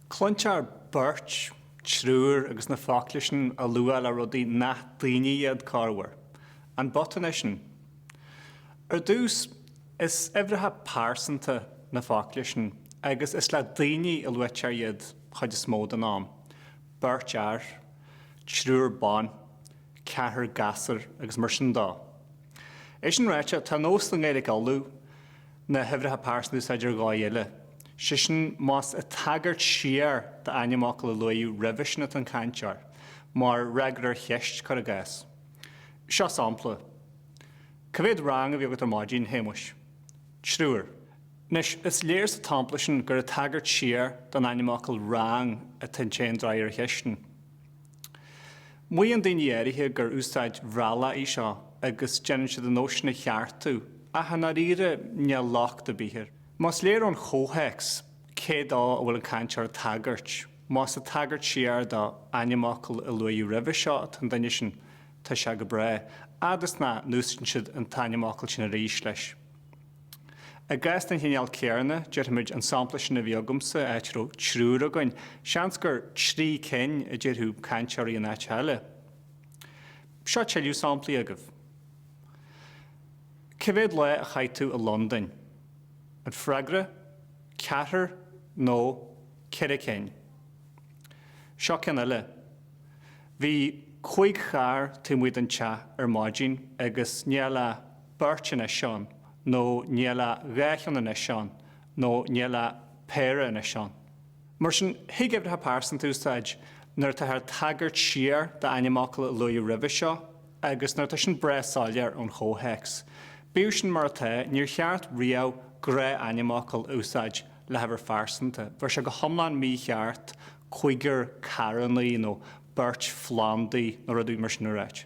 Cluintear beirt, triúr agus na focla sin á lua le rudaí nach daoine iad, corruair. An botún é sin? Ar dtús, is uimhreacha pearsanta na focla sin agus is le daoine a luaitear iad chuid is mó den am, beirt fhear, triúr ban, ceathrar gasúr agus mar sin dó. É sin ráite, tá nós i nGaeilge Uladh na huimhreacha pearsanta a úsáid ar dhóigh eile, sé sin más ag tagairt siar d'ainmfhocal a luaíodh roimhe sin atá an cainteoir, mar fhreagra ar cheist, cuir i gcás. Seo sampla, Ca mhéad rang a bhí agat ar maidin, Shéamuis? Triúr. Anois, is léir sa tsampla sin gur ag tagairt siar don ainmfhocal rang atá an té a d'fhreagair an cheist sin. Maíonn daoine áirithe gur úsáid Bhéarla í seo agus déanann siad an nós sin a cheartú, ach i ndáiríre níl locht ar bith air. Más léir ón chomhthéacs cé dó a bhfuil an cainteoir ag tagairt, más ag tagairt siar d'ainmfhocal a luaíodh roimhe seo atá an duine sin, tá sé go breá, fhad is nach n-úsáideann siad an t-ainmfhocal sin arís leis. I gcás den chineál céanna, déarfaimid an sampla sin a bhí agamsa, áit a raibh triúr againn, seans gur trí cinn a déarfadh cainteoirí in áit eile. Seo tuilleadh samplaí agaibh. Cé mhéad lá a chaith tú i Londain? An freagra, ceathrar nó ceithre cinn. Seo ceann eile, Bhí cúig charr taobh amuigh den teach ar maidin agus níl ach beirt anois ann, nó níl ach dhá cheann anois ann, nó níl ach péire anois ann. Mar sin, thig uimhreacha pearsanta a úsáid nuair atáthar ag tagairt siar d'ainmfhocal a luaíodh roimhe seo, agus nuair atá sin breá soiléir ón chomhthéacs. Bíodh sin mar atá, níor cheart riamh gnáth-ainmfhocal a úsáid le huimhir phearsanta, bheadh sé go hiomlán mícheart cúigear carrannaí nó beirt phlándaí nó rud éigin mar sin a ráit.